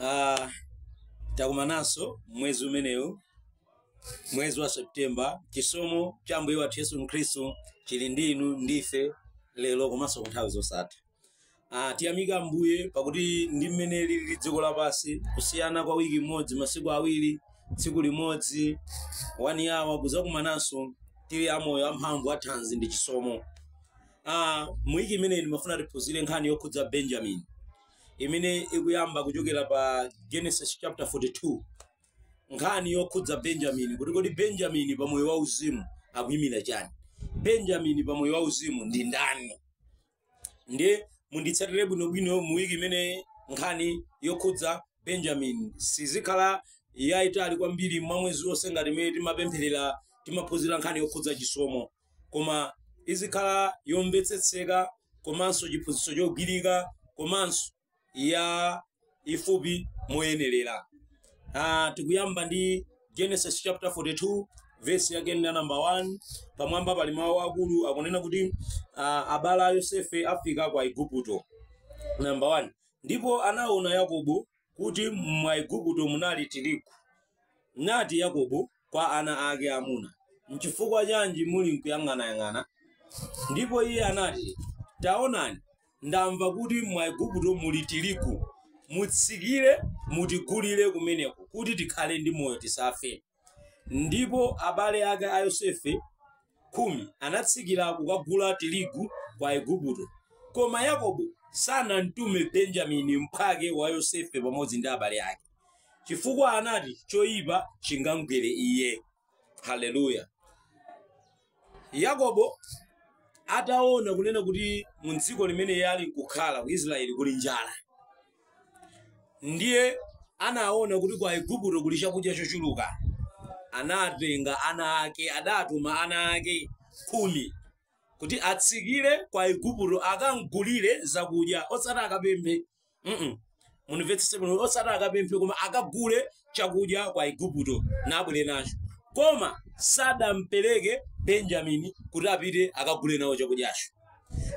Ah, takumananso mwezi umenewu mwezi wa septemba chisomo cha ambuye wathu yesu khristu chili ndi inu ndi ife lero komanso ku nthawi zosatha Ah, tiyamika ambuye pakuti ndi mmene lili dziko lapansi kusiyana kwa wiki imodzi masiku awiri tsiku limodzi 1 hour kuzakumananso tili amoyo amphamvu athanzi ndi chisomo Ah, mu wiki imeneyi ndimafuna tiphunzire nkhani yokhudza benjamini imene ikuyamba kuchokera pa genesis chapter 42 nkhani yokhudza benjamini kuti kodi benjamini pa moyo wauzimu akuyimira chani benjamini pa moyo wauzimu ndi ndani ndiye munditsatire bwinobwino mu wiki imeneyi nkhani yokhudza benjamini sizikhala yayitali kwambiri mwa mwezi wonse ngati mmene timapempherera timaphunzira nkhani yokhudza chisomo koma izikhala yomvetsetseka komanso chiphunzitso chogwirika komanso yaifupi moyenerera Ah, tikuyamba ndi genesis chapter 42 vesi yake ndi ya namba 1 pamwamba pali mawu akulu onena kuti ah, abale a yosefe afika kwa igupto namba 1 ndipo anaona yakobo kuti mwa Aigupto munali tirigu. Nati Yakobo kwa ana ake amuna, Nchifukwa chanji mulinkuyang'anayang'ana? Ndipo iye anati, Taonani, ndamva kuti mwa Aigupto muli tirigu. Mutsikire mutigulire kumeneko, kuti tikhale ndi moyo tisafe. Ndipo abale ake a Yosefe khumi anatsikira kukagula tirigu kwa Aigupto. Koma Yakobo sanamtume Benjamini mphwake wa Yosefe pamodzi ndi abale ake, chifukwa anati, Choipa chingamgwere iye. Haleluya! yakobo ataona kunena kuti mu dziko limene iye ali nkukhala ku israeli kuli njala ndiye anaona kuti kwa aigupto kuli chakudya chochuluka anatenga ana ake adatuma ana ake khumi kuti atsikire kwa aigupto akamgulire zakudya osati akapemphe mm munimvetsetse bwino osati akapemphe koma akagule chakudya kwa igupto nabwere nacho koma sadampereke benjamini kuti apite akagule nawo chakudyacho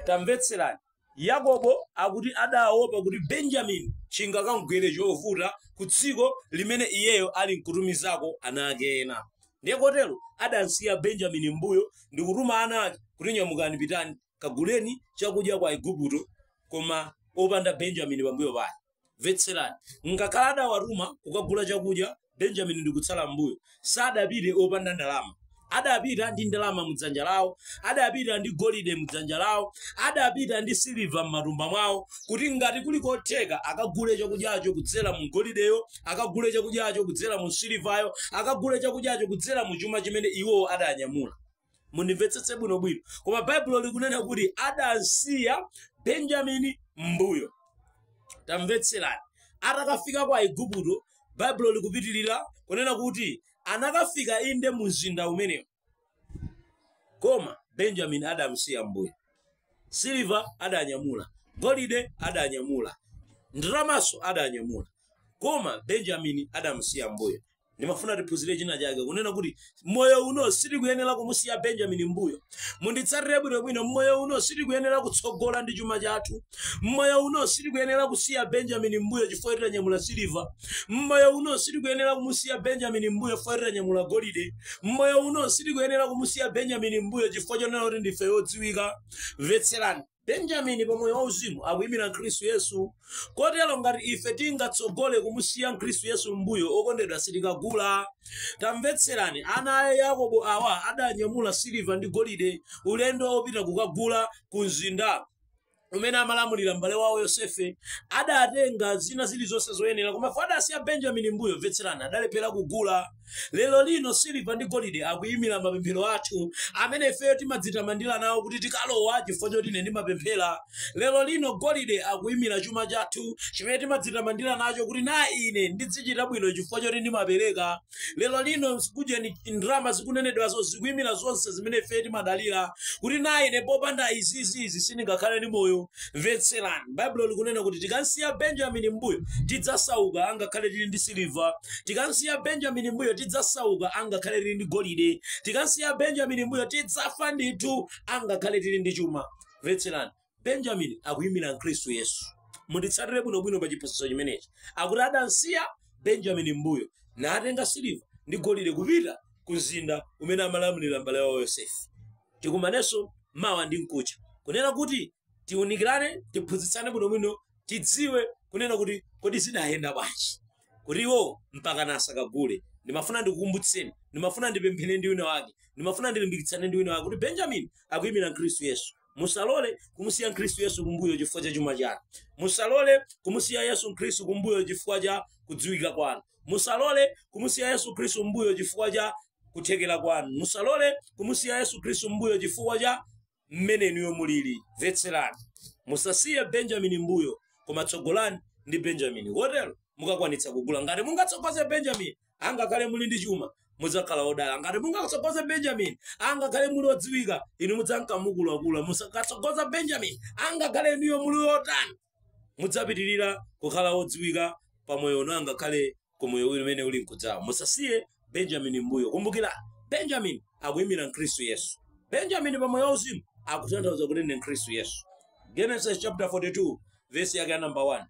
tamvetserani yakobo akuti adaopa kuti benjamini chingakamgwere chovuta ku dziko limene iyeyo ali nkutumizako ana ake ena ndiye kotero adamsiya benjamini mmbuyo ndi kutuma ana ake kuti nyamukani pitani kaguleni chakudya kwa Aigupto, koma opanda Benjamini pambuyo pake. Mvetserani, ngakhala adawatuma kukagula chakudya, Benjamini ndi kutsala m'mbuyo, sadapite opanda ndalama. Adapita ndi ndalama mudzanja lawo, adapita ndi golide mudzanja lawo, adapita ndi siliva m'matumba mwawo, kuti ngati kuli kotheka akagule chakudyacho kudzera mu golideyo, akagule chakudyacho kudzera mu silivayo, akagule chakudyacho kudzera mu chuma chimene iwowo adanyamula. mundimvetsetse bwinobwino koma baibulo likunena kuti adasiya benjamini mbuyo tamvetserani atakafika kwa aiguputo baibulo likupitirira kunena kuti anakafika inde mu mzinda umenewo koma benjamini adamsiya mbuyo siliva adanyamula golide adanyamula ndalamaso adanyamula koma benjamini adamsiya mbuyo ndimafuna tiphunzire china chake kunena kuti mmoyo uno sitikuyenera kumusiya benjamini mbuyo munditsatire bwinobwino mmoyo uno sitikuyenera kutsogola ndi chuma chathu mmoyo uno sitikuyenera kusiya benjamini mbuyo chifukwa choti tanyamula siliva mmoyo uno sitikuyenera kumusiya benjamini mbuyo chifukwa choti tanyamula golide mmoyo uno sitikuyenera kumusiya benjamini mbuyo chifukwa chonena kuti ndife odziwika mvetserani benjamini pa moyo wauzimu akuyimira khristu yesu kotero ngati ife tingatsogole kumusiya mkhristu yesu m'mbuyo okondedwa sitikagula tamvetserani ana a yakobo awa adanyamula siliva ndi golide ulendo wopita kukagula ku mzinda kumene amalamulira m'bale wawo yosefe adatenga zina zilizonse zoyenera komabe adasiya benjamini m'mbuyo mvetserani adalephera kugula Lero lino siliva ndi golide akuyimira mapemphero athu amene ifeyo timadzitamandira nawo kuti tikalowa chifukwa choti ine ndimapemphera. Lero lino golide akuyimira chuma chathu chimene timadzitamandira nacho kuti na ine ndidzichita bwino chifukwa choti ndimapereka. Lero lino kujeni ndalama zikunenedwazo zikuyimira zonse zimene ifeyo timadalira kuti na ine popanda izizizi sindingakhale ndi moyo. mvetserani baibulo likunena kuti tikamsiya benjamini mbuyo tidzasauka angakhale tili ndi siliva tikamsiya benjamini mbuyo tidzasauka angakhale tili ndi golide tikamsiya benjamini mbuyo tidzafa ndithu angakhale tili ndi chuma mvetserani benjamini akuyimira mkhristu yesu munditsatire bwinobwino pa chiphunzitso chimenechi akuti adamsiya benjamini mbuyo natenga siliva ndi golide kupita ku mzinda umene amalamulira mbale wawo yosefe tikumanenso mawa ndi mkuja kunena kuti tiunikirane tiphunzitsane bwinobwino tidziwe kunena kuti kodi zidayenda bwanji kuti iwo mpaka nasakagule ndimafuna ndikukumbutseni ndimafuna ndipemphere ndi wina wake ndimafuna ndilimbikitsane ndi wina wake kuti benjamini akuyimira khristu yesu musalole kumusiya khristu yesu kumbuyo chifukwa cha chuma chanu musalole kumusiya yesu khristu kumbuyo chifukwa cha kudziwika kwanu musalole kumusiya yesu khristu kumbuyo chifukwa cha kuthekera kwanu musalole kumusiya yesu khristu mbuyo chifukwa cha mmene inuyo mulili mvetserani musasiye benjamini mbuyo koma tsogolani ndi benjamini kotero mukakwanitsa kugula ngati mungatsogoze benjamini angakhale muli ndi chuma mudzakhala odala ngati mungatsogoze benjamini angakhale muli odziwika inu mudzanka mukulakula musakatsogoza benjamini angakhale inuyo muli otani mudzapitirira kukhala odziwika pamoyo uno angakhale ku moyo umene uli nkudzawo musasiye benjamini mbuyo kumbukira benjamini akuyimira khristu yesu benjamini pa moyo wauzimu akutanthauza kuti ndi khristu yesu genesis chapter 42 vesi yake ya namba 1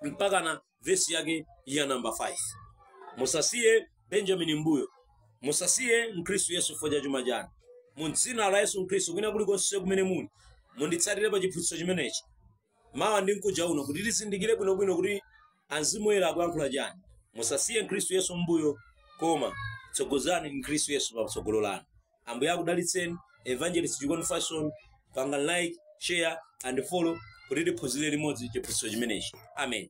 mpaka na vesi yake ya namba 5 musasiye benjamini mbuyo musasiye khristu yesu chifukwa cha chuma chanu mu dzina la yesu khristu kwina kulikonse kumene muli munditsatire pa chiphunzitso chimenechi mawa ndi mkuja uno kuti tizindikire bwinobwino kuti amzimu woyera akuyankhula chani musasiye khristu yesu mbuyo koma tsogozani khristu yesu patsogolo lanu ambuye akudalitseni evangelist chikondi fashion panga like share and follow kuti tiphunzire limodzi chiphunzitso chimenechi amen